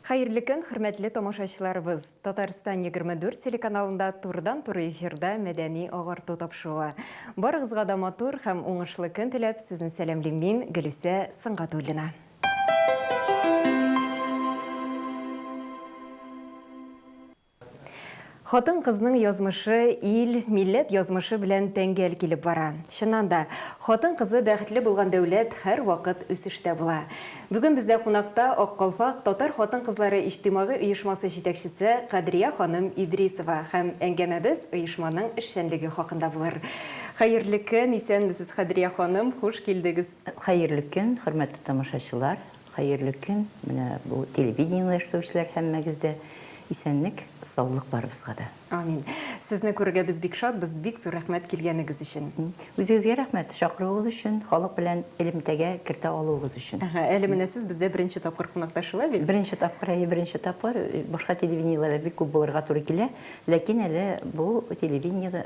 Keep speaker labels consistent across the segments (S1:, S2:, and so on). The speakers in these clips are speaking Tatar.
S1: Хәерле көн, хөрмәтле тамашачыларыбыз! Татарстан 24 телеканалында турыдан-туры эфирда мәдәни агарту тапшыруы. Барыгызга да матур һәм уңышлы көн теләп, сезне сәламлим мин, Гөлүсә Сыңгатуллина. Хатын-кызның язмышы ил, милләт язмышы белән тәңгәл килеп бара. Чыннан да, хатын-кызы бәхетле булган дәүләт һәрвакыт үсештә була. Бүген бездә кунакта Ак калфак татар хатын-кызлары иҗтимагый оешмасы җитәкчесе Кадрия ханым Идрисова һәм әңгәмәбез оешманың эшчәнлеге хакында булыр. Хәерле көн, исәнмесез, Кадрия ханым, хуш килдегез! Хәерле көн,
S2: хөрмәтле тамашачылар! Хәерле көн, менә бу телевидениене оештыручылар һәммәгез дә! Исәнлек, саулык барыбызга да! Амин! Сезне
S1: күрергә без бик шатбыз, бик зур рәхмәт килгәнегез өчен! Үзегезгә рәхмәт,
S2: чакыруыгыз өчен, халык белән элемтәгә кертә алуыгыз өчен! Әһә, әле менә сез бездә
S1: беренче тапкыр кунакта, шулай бит? Беренче тапкыр, әйе, беренче
S2: тапкыр. Башка телевидениеләрдә бик күп булырга туры килә, ләкин әле бу телевидениедә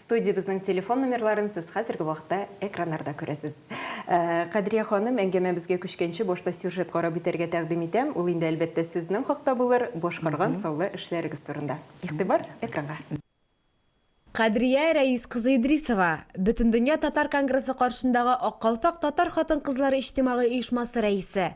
S1: Студиябезнең телефон номерларын сез хәзерге вакытта экраннарда күрәсез. Кадрия ханым, әңгәмәбезгә күчкәнче, башта сюжет карап үтәргә тәкъдим итәм. Ул инде, әлбәттә, сезнең хакта булыр, башкарган саллы эшләрегез турында. Игътибар, экранга!
S3: Кадрия Рәис кызы Идрисова, Бөтендөнья татар конгрессы каршындагы Ак калфак татар хатын-кызлары иҗтимагый оешмасы рәисе.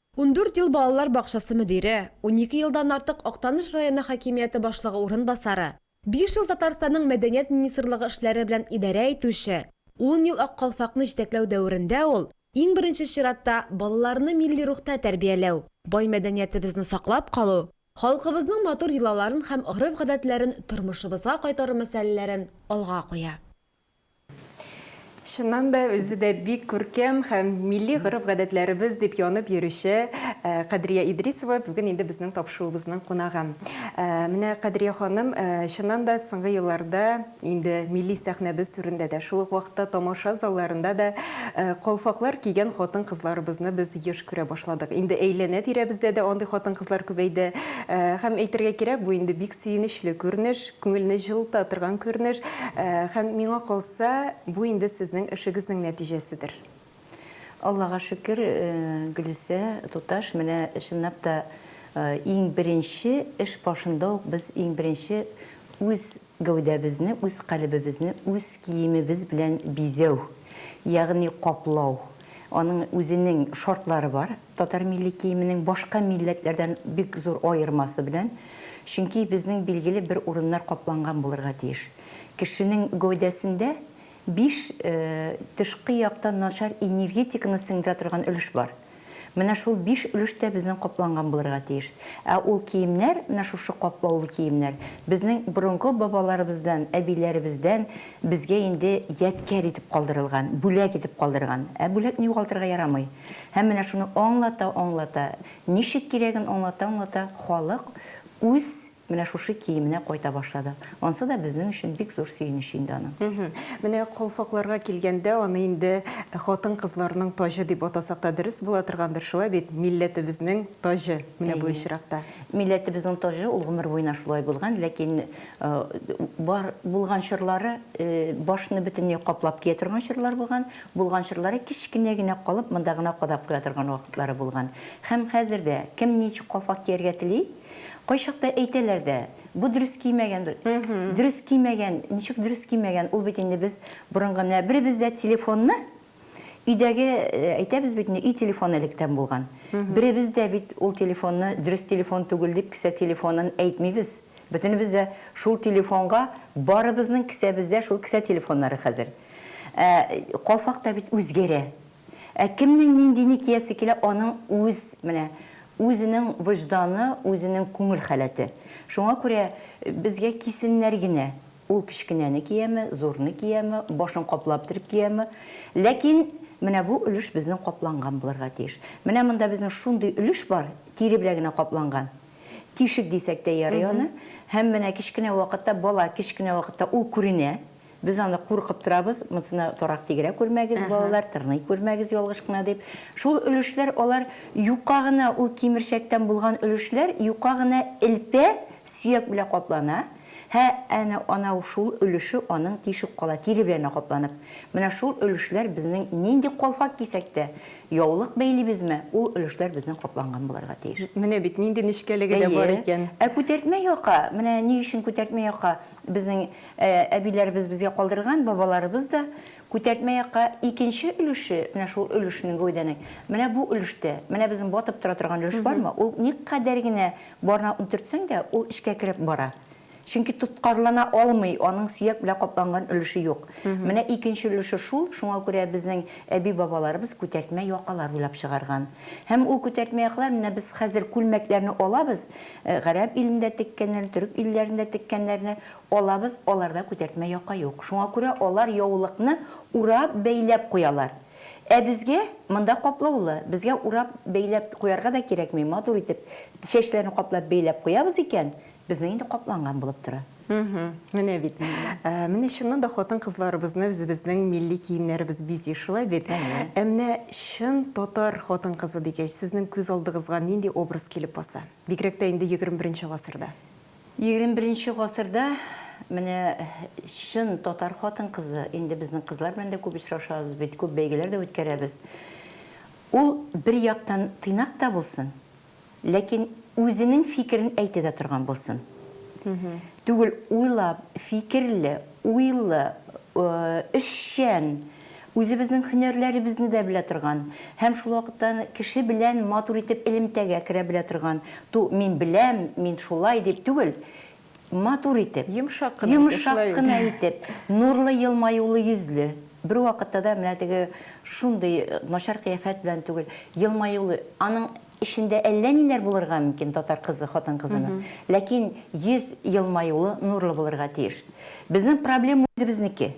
S3: Ундүрт ел балалар бакчасы мөдире, унике елдан артык Актаныш районы хакимияте башлыгы урынбасары, биш ел Татарстанның Мәдәният министрлыгы эшләре белән идарә итүче, ун ел Ак калфакны җитәкләү дәверендә ул, иң беренче чиратта, балаларны милли рухта тәрбияләү, бай мәдәниятебезне саклап калу, халкыбызның матур йолаларын һәм гореф-гадәтләрен тормышыбызга кайтару мәсьәләләрен алга куя.
S1: Чыннан да, үзе дә бик күркәм һәм милли гореф-гадәтләребез дип янып йөрүче Кадрия Идрисова бүген инде безнең тапшыруыбызның кунагы. Менә Кадрия ханым, чыннан да, соңгы елларда инде милли сәхнәбез түрендә дә, шул ук вакытта тамаша залларында да калфаклар кигән хатын-кызларыбызны без еш күрә башладык. Инде әйләнә-тирәбездә дә андый хатын-кызлар күбәйде. Һәм әйтергә кирәк, бу инде бик Сөенечле күренеш, күңелне җылыта торган күренеш. Һәм миңа калса, бу инде сезнең эшегезнең нәтиҗәседер.
S2: Аллага шөкер, Гөлүсә туташ, менә чынлап та иң беренче эш башында ук без иң беренче үз гәүдәбезне, үз калебебезне үз киемебез белән бизәү, ягъни каплау, аның үзенең шартлары бар. Татар милли киеменең башка милләтләрдән бик зур аермасы белән, чөнки безнең билгеле бер урыннар капланган булырга тиеш. Кешенең гәүдәсендә биш тышкы яктан начар энергетиканы сеңдерә торган өлеш бар. Менә шул биш өлеш тә безнең капланган булырга тиеш. Ә ул киемнәр, менә шушы каплаулы киемнәр, безнең борынгы бабаларыбыздан, әбиләребездән безгә инде ядкяр итеп калдырылган, бүләк итеп калдырган. Ә бүләкне югалтырга ярамый. Һәм менә шуны аңлата-аңлата, ничек кирәген аңлата-аңлата, халык үз менә шушы киеменә кайта башлады. Ансы да безнең өчен бик зур сөенеч инде аның. Менә калфакларга
S1: килгәндә, аны инде хатын-кызларның таҗы дип атасак та дөрес була торгандыр, шулай бит? Милләтебезнең таҗы менә бу очракта. Әйе. Милләтебезнең таҗы,
S2: ул гомер буена шулай булган, ләкин бар булган чорлары, башны бөтенләй каплап кия торган чорлар булган, Булган чорлары кечкенә генә калып монда гына кадап куя торган вакытлары булган. Һәм хәзер дә, кем ничек калфак кияргә тели, кайчакта әйтәләр дә, бу дөрес кимәгән, дөрес кимәгән, ничек дөрес кимәгән, ул бит инде без борынгы, менә беребез дә телефонны, өйдәге, әйтәбез бит инде, өй телефоны электән булган, беребез дә бит ул телефонны дөрес телефон түгел дип кесә телефонын әйтмибез, бөтенебез дә шул телефонга, барыбызның кесәбездә шул кесә телефоннары хәзер. Ә калфак та бит үзгәрә. Ә кемнең ниндине киясе килә, аның үз, менә, үзенең вөҗданы, үзенең күңел халәте. Шуңа күрә безгә кисеннәр генә, ул кечкенәне кияме, зурны кияме, башын каплап төреп кияме. Ләкин менә бу өлеш безнең капланган булырга тиеш. Менә монда безнең шундый өлеш бар, тире белән генә капланган. Тишек дисәк тә ярый аны. Һәм менә кечкенә вакытта, бала кечкенә вакытта ул күренә. Без аны куркып торабыз, монсына торак тигерә күрмәгез, балалар, тырный күрмәгез ялгыш кына дип. Шул өлешләр, алар юка гына, ул кимерчәктән булган өлешләр юка гына элпә, сөяк белән каплана, һә әнә анау шул өлеше аның тишек кала, тире белән капланып. Менә шул өлешләр безнең нинди калфак кисәк тә, яулык бәйлибезме, ул өлешләр безнең капланган булырга тиеш. Менә бит нинди
S1: нечкәлеге дә бар икән. Әйе. Ә күтәртмә яка,
S2: менә ни өчен күтәртмә яка безнең Ә әбиләребез безгә калдырган, бабаларыбыз да, күтәртмә якка икенче өлеше, менә шул өлешнең гәүдәнең, менә бу өлештә, менә безнең батып тора торган өлеш бармы, ул никадәр генә барына үнтертсәң дә, ул эчкә кереп бара. Чөнки тоткарлана алмый, аның сөяк белән капланган өлеше юк. Менә икенче өлеше шул, шуңа күрә безнең әби-бабаларыбыз күтәртмә якалар уйлап чыгарган. Һәм ул күтәртмә якалар, менә без хәзер күлмәкләрне алабыз, гарәп илендә теккәннәрне, төрек илләрендә теккәннәрне, Алабыз, аларда күтәртмә яка юк. Шуңа күрә алар яулыкны урап, бәйләп куялар. Ә безгә, монда каплаулы, безгә урап, бәйләп куярга да кирәкми, матур итеп чәчләрне каплап, бәйләп куябыз икән, безнең инде капланган булып тора. Мхм, менә
S1: бит. Менә чыннан да хатын-кызларыбызны үзебезнең милли киемнәребез бизи, шулай бит? Ә менә чын татар хатын-кызы дигәч, сезнең күз алдыгызга нинди образ килеп баса? Бигрәк тә инде егерме беренче гасырда. Егерме беренче
S2: гасырда менә чын татар хатын-кызы, инде безнең кызлар белән дә күп очрашабыз бит, күп бәйгеләр дә үткәрәбез. Ул бер яктан тыйнак та булсын, ләкин үзенең фикерен әйтә дә торган булсын. Түгел, уйлап, фикерле, уйлы, эшчән, Үзебезнең һөнәрләребезне дә белә торган һәм шул вакытта аны кеше белән матур итеп элемтәгә керә белә торган, ту, мин беләм, мин шулай дип түгел, матур итеп, Йомшак кына итеп, йомшак шулай бит. кына итеп, нурлы елмаюлы йөзле, бервакытта да менә теге шундый начар кыяфәт белән түгел, елмаюлы, аның эчендә әллә ниләр булырга мөмкин татар кызы, хатын-кызының, ләкин йөз елмаюлы, нурлы булырга тиеш. Безнең проблема үзебезнеке.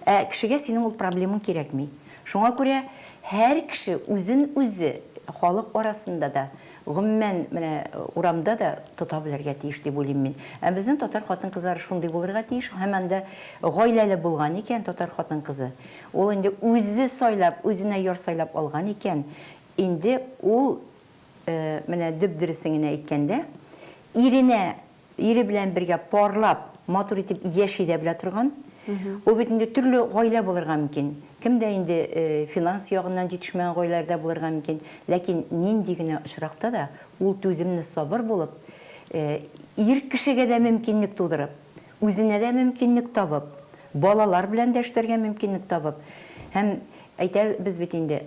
S2: Ә кешегә синең ул проблемың кирәкми. Шуңа күрә һәр кеше үзен үзе халык арасында да, гомумән, менә урамда да тота белергә тиеш дип уйлыйм мин. Ә безнең татар хатын-кызлары шундый булырга тиеш, һәм анда гаиләле булган икән татар хатын-кызы, ул инде үзе сайлап, үзенә яр сайлап алган икән, инде ул, менә дөп-дөресен генә әйткәндә, иренә Ире белән бергә парлап, матур итеп яши дә белә торган. Ул бит инде төрле гаилә булырга мөмкин. Кемдә инде финанс ягыннан җитешмәгән гаиләләр дә булырга мөмкин. Ләкин нинди генә очракта да ул түземле, сабыр булып, ир кешегә дә мөмкинлек тудырып, үзенә дә мөмкинлек табып, балалар белән дә эшләргә мөмкинлек табып һәм әйтәбез бит инде,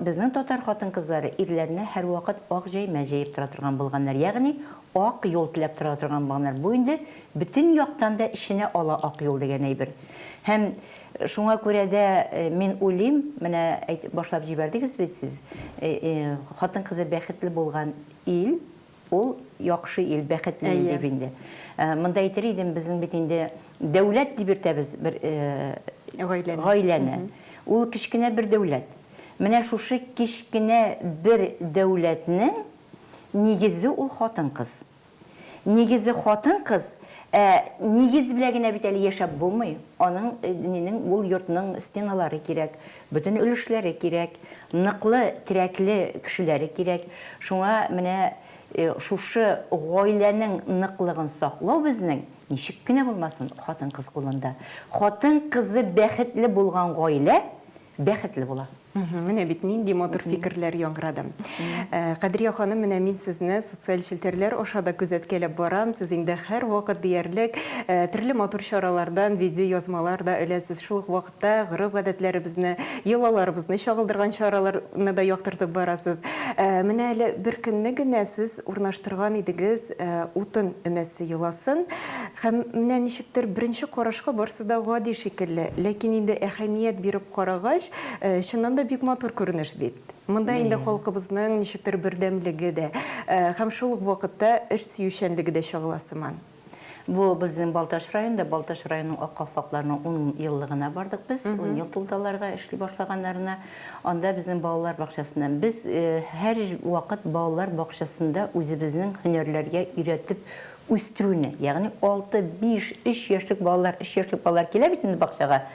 S2: безнең татар хатын-кызлары ирләренә һәрвакыт ак җәймә җәеп тора торган булганнар. Ягъни Ак юл теләп тора торган баннер. Бу инде бөтен яктан да эченә ала ак юл дигән әйбер. Һәм шуңа күрә дә мин уйлыйм, менә әйтеп башлап җибәрдегез бит сез, хатын-кызы бәхетле булган ил, ул яхшы ил, бәхетле ил дип инде. Монда әйтер идем, безнең бит инде дәүләт дип йөртәбез бер гаиләне. Ул кечкенә бер дәүләт. Менә шушы кечкенә бер дәүләтнең Нигезе ул хатын-кыз. Нигезе хатын-кыз, ә нигез белән генә бит әле яшәп булмый. Аның, нинең, ул йортның стеналары кирәк, бөтен өлешләре кирәк, ныклы, терәкле кешеләре кирәк. Шуңа менә шушы гаиләнең ныклыгын саклау безнең, ничек кенә булмасын, хатын-кыз кулында. Хатын-кызы бәхетле булган гаилә, бәхетле була. Менә бит нинди
S1: матур фикерләр яңгырады. Кадрия ханым, менә мин сезне социаль челтәрләр аша да күзәткәләп барам. Сез инде һәрвакыт диярлек төрле матур чаралардан видеоязмалар да эләсез. Шул ук вакытта гореф-гадәтләребезне, йолаларыбызны чагылдырган чараларны да яктыртып барасыз. Менә әле беркөнне генә сез урнаштырган идегез утын өмәсе йоласын, һәм менә ничектер беренче карашка барсы да гади шикелле, ләкин инде әһәмият биреп карагач, чыннан да бик матур күренеш бит. Монда инде халкыбызның ничектер бердәмлеге дә һәм шул ук вакытта эш сөючәнлеге дә чагыла сыман. Бу
S2: безнең Балтач районында, Балтач районының Ак калфакларының ун еллыгына бардык без, ун ел тулды аларга эшли башлаганнарына. Анда безнең балалар бакчасыннан. Без һәр вакыт балалар бакчасында үзебезнең һөнәрләргә өйрәтеп үстерүне, ягъни алты, биш, өч яшьлек балалар, өч яшьлек балалар килә бит инде бакчага,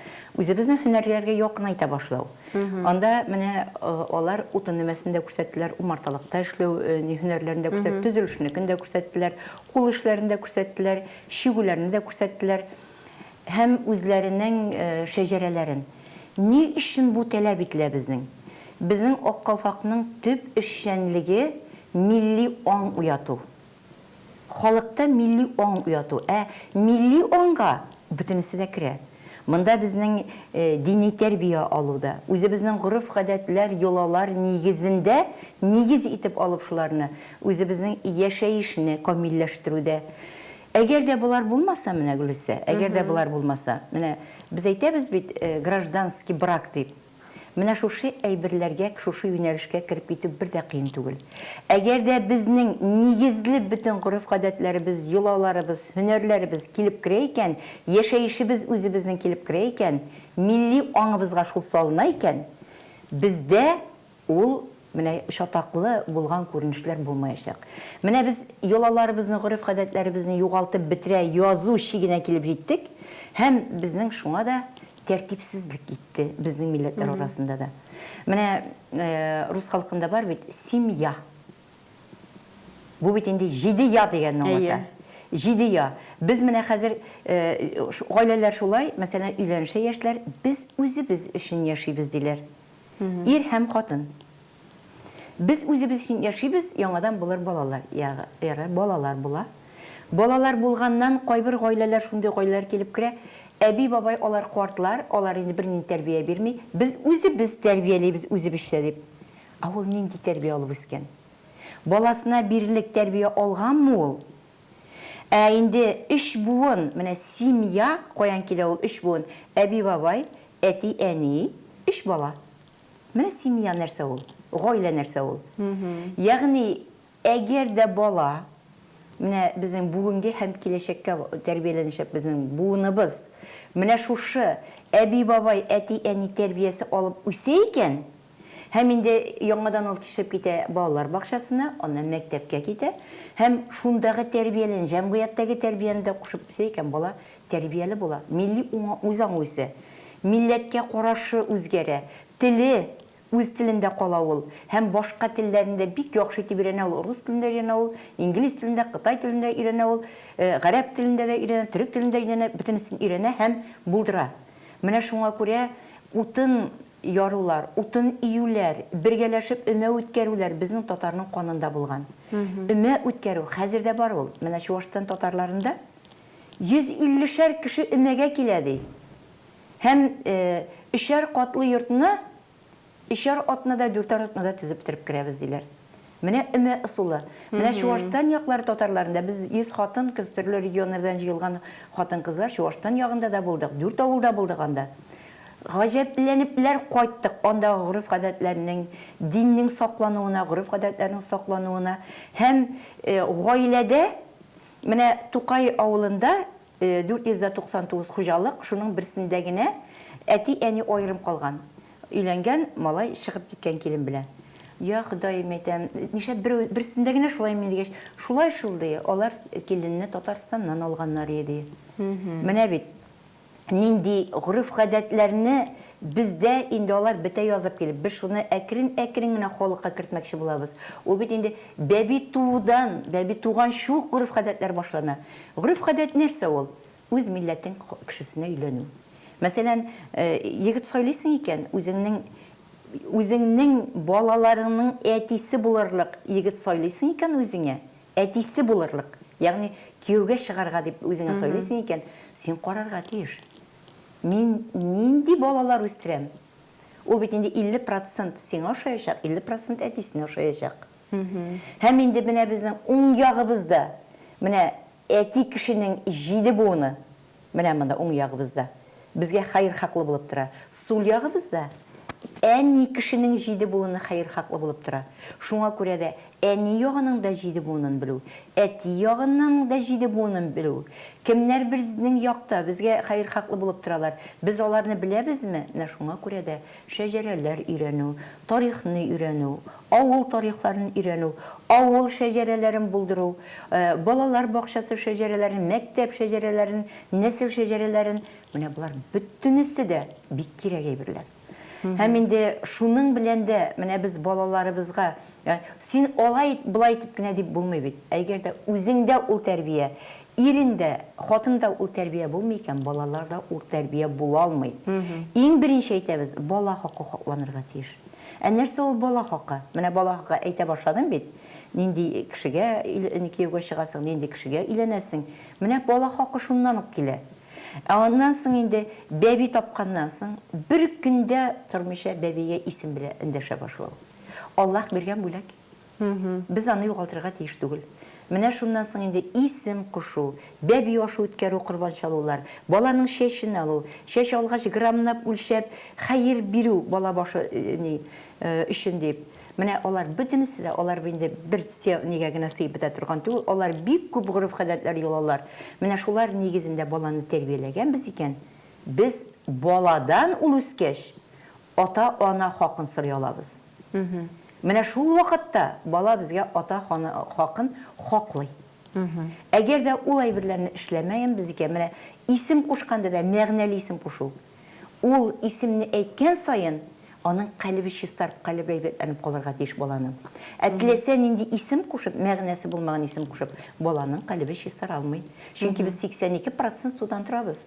S2: үзебезнең һөнәрләргә якынайта башлау. Анда менә алар утын өмәсен дә күрсәттеләр, умарталыкта эшләү һөнәрләрен дә күрсәттеләр, төзелешнекен дә күрсәттеләр, Кул эшләрен дә күрсәттеләр, чигүләрне дә күрсәттеләр һәм үзләренең шәҗәрәләрен. Ни өчен бу таләп ителә безнең? Безнең Ак калфакның төп эшчәнлеге, милли аң уяту. Халыкта милли аң уяту. Ә милли аңга бөтенесе дә керә. Монда безнең дини тәрбия алуда, үзебезнең гореф-гадәтләр, йолалар нигезендә нигез итеп алып шуларны, үзебезнең яшәешне камилләштерүдә Әгәр дә болар булмаса, менә, Гөлүсә, әгәр дә болар булмаса, менә без әйтәбез бит, гражданский брак дип. Менә шушы әйберләргә, шушы юнәлешкә кереп китү бер дә кыен түгел. Әгәр дә безнең нигезле бөтен гореф-гадәтләребез, йолаларыбыз, һөнәрләребез килеп керә икән, яшәешебез үзебезнең килеп керә икән, милли аңыбызга шул салына икән, бездә ул, Менә чатаклы булган күренешләр булмаячак. Менә без йолаларыбызны, гореф-гадәтләребезне югалтып бетерә язу чигенә килеп җиттек һәм безнең шуңа да тәртипсезлек китте безнең милләтләр арасында да. Менә рус халкында бар бит, семья. Бу бит инде җиде я дигәнне аңлата. Җиде я. Без менә хәзер гаиләләр шулай, мәсәлән, өйләнешә яшьләр, без үзебез өчен яшибез диләр. Ир һәм хатын. Без үзебез өчен яшибез, яңадан болар балалар, ягы, балалар була. Балалар булганнан, кайбер гаиләләр, шундый гаиләләр килеп керә, әби-бабай алар картлар, алар инде бернинди тәрбия бирми, без үзебез тәрбиялибез үзебезчә дип. Ә ул нинди тәрбия алып үскән? Баласына бирерлек тәрбия алганмы ул? Ә инде өч буын, менә семья каян килә ул өч буын? Әби-бабай, әти-әни, өч бала. Менә семья нәрсә ул, гаилә нәрсә ул. Ягъни, әгәр дә бала, менә безнең бүгенге һәм киләчәккә тәрбияләнәчәк безнең буыныбыз, менә шушы әби-бабай, әти-әни тәрбиясе алып үсә икән, Һәм инде яңадан ул кичеп китә балалар бакчасына, аннан мәктәпкә китә һәм шундагы тәрбияләнә, җәмгыятьтәге тәрбияне дә кушып үсә икән, бала тәрбияле була, милли үзаңы үсә, милләткә карашы үзгәрә, теле, үз телендә кала ул һәм башка телләрне дә бик яхшы итеп өйрәнә ул, рус телен дә өйрәнә ул, инглиз телен дә, кытай телен дә өйрәнә ул, гарәп телен дә өйрәнә, төрек телен дә өйрәнә, бөтенесен өйрәнә һәм булдыра. Менә шуңа күрә утын ярулар, утын июләр, бергәләшеп өмә үткәрүләр безнең татарның канында булган. Өмә үткәрү хәзер дә бар ул. Менә Чуашстан татарларында 150 шәр кеше өмәгә килә, ди. Һәм өчәр катлы йортны өчәр атнада, дүртәр атнада төзеп бетереп керәбез, диләр. Менә өмә ысулы. Менә Чуашстан яклары татарларында без 100 хатын-кыз төрле регионнардан җыелган хатын-кызлар Чуашстан ягында да булдык, дүрт авылда булдык анда. Гаҗәпләнепләр кайттык андагы гореф-гадәтләрнең, диннең саклануына, гореф-гадәтләрнең саклануына һәм гаиләдә менә Тукай авылында 499 хуҗалык, шуның берсендә генә әти-әни аерым калган. Өйләнгән малай чыгып киткән килен белән. Я, Ходаем, әйтәм, нишләп берү, берсендә генә шулаймыни дигәч, шулай шул, ди, алар киленне Татарстаннан алганнар иде, ди. Менә бит нинди гореф-гадәтләрне бездә инде алар бетә язып килеп, без шуны әкрен-әкрен генә халыкка кертмәкче булабыз. Ул бит инде бәби туудан, бәби туганчы ук гореф-гадәтләр башлана. Гореф-гадәт нәрсә ул? Үз милләтең кешесенә өйләнү. Мәсәлән, егет сайлыйсың икән, үзеңнең үзеңнең балаларыңның әтисе булырлык егет сайлыйсың икән үзеңә, әтисе булырлык, ягъни кияүгә чыгарга дип үзеңә сайлыйсың икән, син карарга тиеш. Мин нинди балалар үстерәм? Ул бит инде 50 процент сиңа ошаячак, 50 процент әтисенә ошаячак. Һәм инде менә безнең уң ягыбызда, менә Әти кешенең җиде буыны менә монда, уң ягыбызда, безгә хәерхаклы булып тора. Сул ягыбызда әни кешенең җиде буыны хәерхаклы булып тора. Шуңа күрә дә әни ягының да җиде буынын белү, әти ягының да җиде буынын белү, кемнәр безнең якта, безгә хәерхаклы булып торалар, без аларны беләбезме, менә шуңа күрә дә шәҗәрәләр өйрәнү, тарихны өйрәнү, авыл тарихларын өйрәнү, авыл шәҗәрәләрен булдыру, балалар бакчасы шәҗәрәләрен, мәктәп шәҗәрәләрен, нәсел шәҗәрәләрен, менә болар бөтенесе дә бик кирәк әйберләр. Һәм инде шуның белән дә менә без балаларыбызга, син алай ит, болай итеп кенә дип булмый бит. Әгәр дә үзеңдә ул тәрбия, Ирең дә, хатын да ул тәрбия булмый икән, балалар да ул тәрбия була алмый. Иң беренче әйтәбез, бала хакы хакланырга тиеш. Ә нәрсә ул бала хакы? Менә бала хакы әйтә башладым бит. Нинди кешегә кияүгә чыгасың, нинди кешегә өйләнәсең. Менә бала хакы шуннан ук килә. Ә аннан соң инде бәби тапканнан соң, бер көн дә тормыйча бәбигә исем белән эндәшә башлау. Аллаһ биргән бүләк. Без аны югалтырга тиеш түгел. Менә шуннан соң инде исем кушу, бәби ашы үткәрү, корбан чалулар, баланың чәчен алу, чәч алгач граммнап үлчәп хәер бирү бала башы өчен дип, менә алар бөтенесе дә, алар инде бер нигә генә сыеп бетә торган түгел, алар бик күп гореф-гадәтләр йолалар. Менә шулар нигезендә баланы тәрбияләгәнбез икән, без баладан ул үскәч ата-ана хакын сорый алабыз. Менә шул вакытта бала безгә ата хакын хаклый. Әгәр дә ул әйберләрне эшләмәгән без икән, менә исем кушканда да мәгънәле исем кушу. Ул исемне әйткән саен, аның калебе чистарып, калебе әйбәтләнеп калырга тиеш баланың. Ә теләсә нинди исем кушып, мәгънәсе булмаган исем кушып, баланың калебе чистара алмый. Чөнки без 82 процент судан торабыз.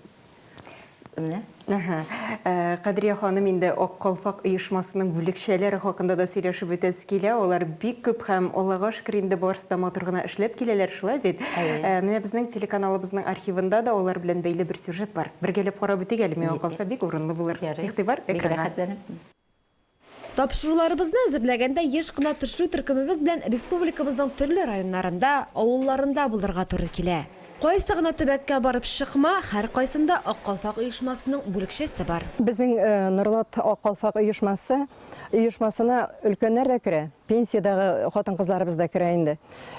S2: Менә. Әһә. Э,
S1: Кадрия ханым инде Ак калфак оешмасының бүлекчәләре хакында да сөйләшеп үтәсе килә. Алар бик күп һәм Аллага шөкер инде барысы да матур гына эшләп киләләр, шулай бит? Әйе. Э, менә безнең телеканалыбызның архивында да алар белән бәйле бер сюжет бар. Бергәләп карап үтик әле, миңа калса бик урынлы булыр. Ярый. Игътибар Бик экранга. рәхәтләнеп. Тапшыруларыбызны
S3: әзерләгәндә еш кына төшерү төркемебез белән республикабызның төрле районнарында, авылларында булырга туры килә. Кайсы гына төбәккә барып чыкма, һәркайсында Ак калфак оешмасының бүлекчәсе бар. Безнең Норлат
S4: Ак калфак оешмасы оешмасына өлкәннәр дә керә, пенсиядәге хатын-кызларыбыз да керә инде.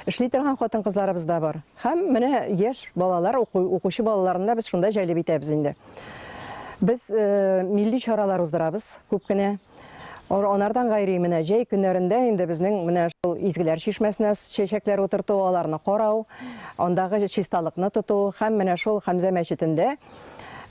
S4: Эшли торган хатын-кызларыбыз да бар. Һәм менә яшь балалар, укучы балаларны да без шунда җәлеп итәбез инде. Без милли чаралар уздырабыз күп кенә. Анардан гайри менә җәй көннәрендә инде безнең менә шул изгеләр чишмәсенә чәчәкләр утырту, аларны карау, андагы чисталыкны тоту һәм менә шул Хәмзә мәчетендә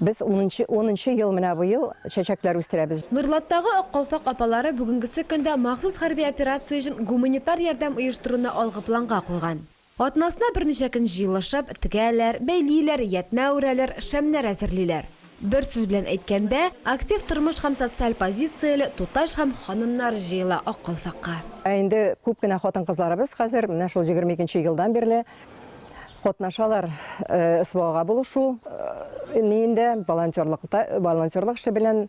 S4: без унынчы унынчы ел менә быел чәчәкләр үстерәбез. Нурлаттагы Ак калфак
S3: апалары бүгенгесе көндә махсус хәрби операция өчен гуманитар ярдәм оештыруны алгы планга куйган. Атнасына берничә көн җыелышып, тегәләр, бәйлиләр, ятьмә үрәләр, шәмнәр әзерлиләр. Бер сүз белән әйткәндә, актив тормыш һәм социаль позицияле туташ һәм ханымнар җыела Аккалфакка. Ә инде күп
S4: кенә хатын-кызларыбыз хәзер, менә шул егерме икенче елдан бирле катнашалар СВОга булышу ниендә, волонтерлыкта, волонтерлык эше белән.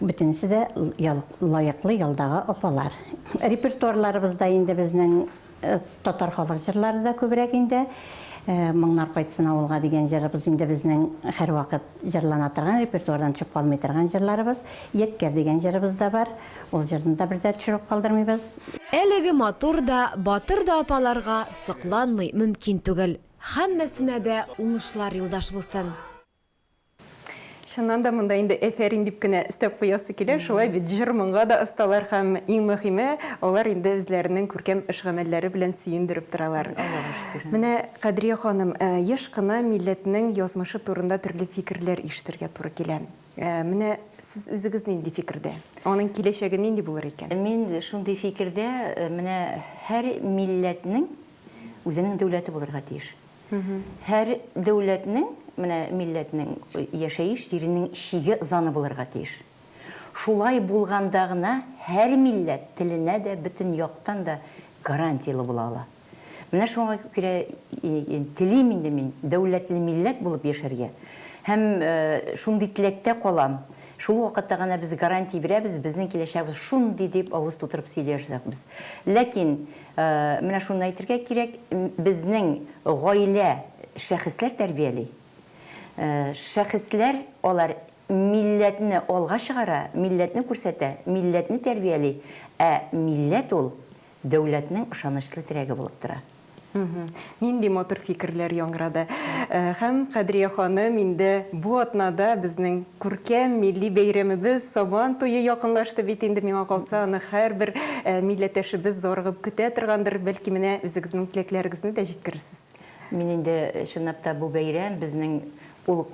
S5: Бөтенесе дә лаеклы ялдагы апалар. Репертуарларыбызда инде безнең татар халык җырлары да күбрәк инде. Моңнар кайтсын авылга дигән җырыбыз инде безнең һәрвакыт җырлана торган, репертуардан төшеп калмый торган җырларыбыз. Ядкәр дигән җырыбыз да бар. Ул җырны да бер дә төшереп калдырмыйбыз. Әлеге
S3: матур да, батыр да апаларга сокланмый мөмкин түгел. Һәммәсенә дә уңышлар юлдаш булсын! Чыннан
S1: да монда инде әфәрин дип кенә өстәп куясы килә, шулай бит, җыр-моңга да осталар һәм, иң мөһиме, алар инде үзләренең күркәм эш-гамәлләре белән сөендереп торалар. Менә, Кадрия ханым, еш кына милләтнең язмышы турында төрле фикерләр ишетергә туры килә. Менә сез үзегез нинди фикердә? Аның киләчәге нинди булыр икән? Мин шундый
S2: фикердә, менә һәр милләтнең үзенең дәүләте булырга тиеш. Һәр дәүләтнең, менә милләтнең яшәеш җиренең чиге заны булырга тиеш. Шулай булганда гына һәр милләт теленә дә бөтен яктан да гарантияле була ала. Менә шуңа күрә телим инде мин дәүләтле милләт булып яшәргә һәм шундый теләктә калам. Шул вакытта гына без гарантия бирәбез, безнең киләчәкбез шундый дип авыз тутырып сөйли алачакбыз. Ләкин Менә шуны әйтергә кирәк, безнең гаилә шәхесләр тәрбияли. Шәхесләр, алар милләтне алга чыгара, милләтне күрсәтә, милләтне тәрбияли, ә милләт ул дәүләтнең ышанычлы терәге булып тора. Нинди
S1: матур фикерләр яңгырады! Һәм, Кадрия ханым, инде бу атнада безнең күркәм милли бәйрәмебез, Сабан туе якынлашты бит инде. Миңа калса, аны һәрбер милләттәшебез зарыгып көтә торгандыр. Бәлки, менә үзегезнең теләкләрегезне дә җиткерерсез? Мин инде,
S2: чынлап та, бу бәйрәм, безнең ул,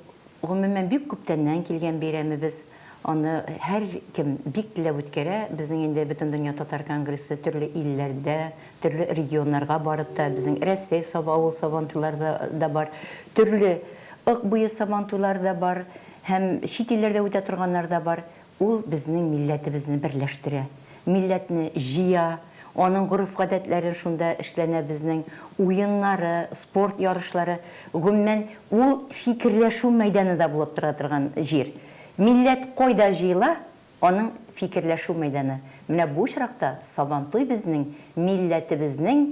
S2: гомумән, бик күптәннән килгән бәйрәмебез. Аны һәркем бик теләп үткәрә. Безнең инде Бөтендөнья татар конгрессы төрле илләрдә, төрле регионнарга барып та, безнең Рәсәй Саба авыл Сабантуйлары да бар, төрле Ык буе Сабантуйлары да бар һәм чит илләрдә үтә торганнары да бар. Ул безнең милләтебезне берләштерә. милләтне җыя, аның гореф-гадәтләрен шунда эшләнә безнең, уеннары, спорт ярышлары, гомумән, ул фикерләшү мәйданы да булып тора торган җир. Милләт кайда җыела, аның фикерләшү мәйданы. Менә бу очракта Сабантуй безнең милләтебезнең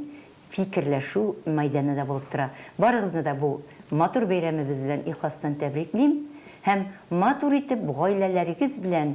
S2: фикерләшү мәйданы да булып тора. Барыгызны да бу матур бәйрәмебез белән ихластан тәбриклим һәм матур итеп гаиләләрегез белән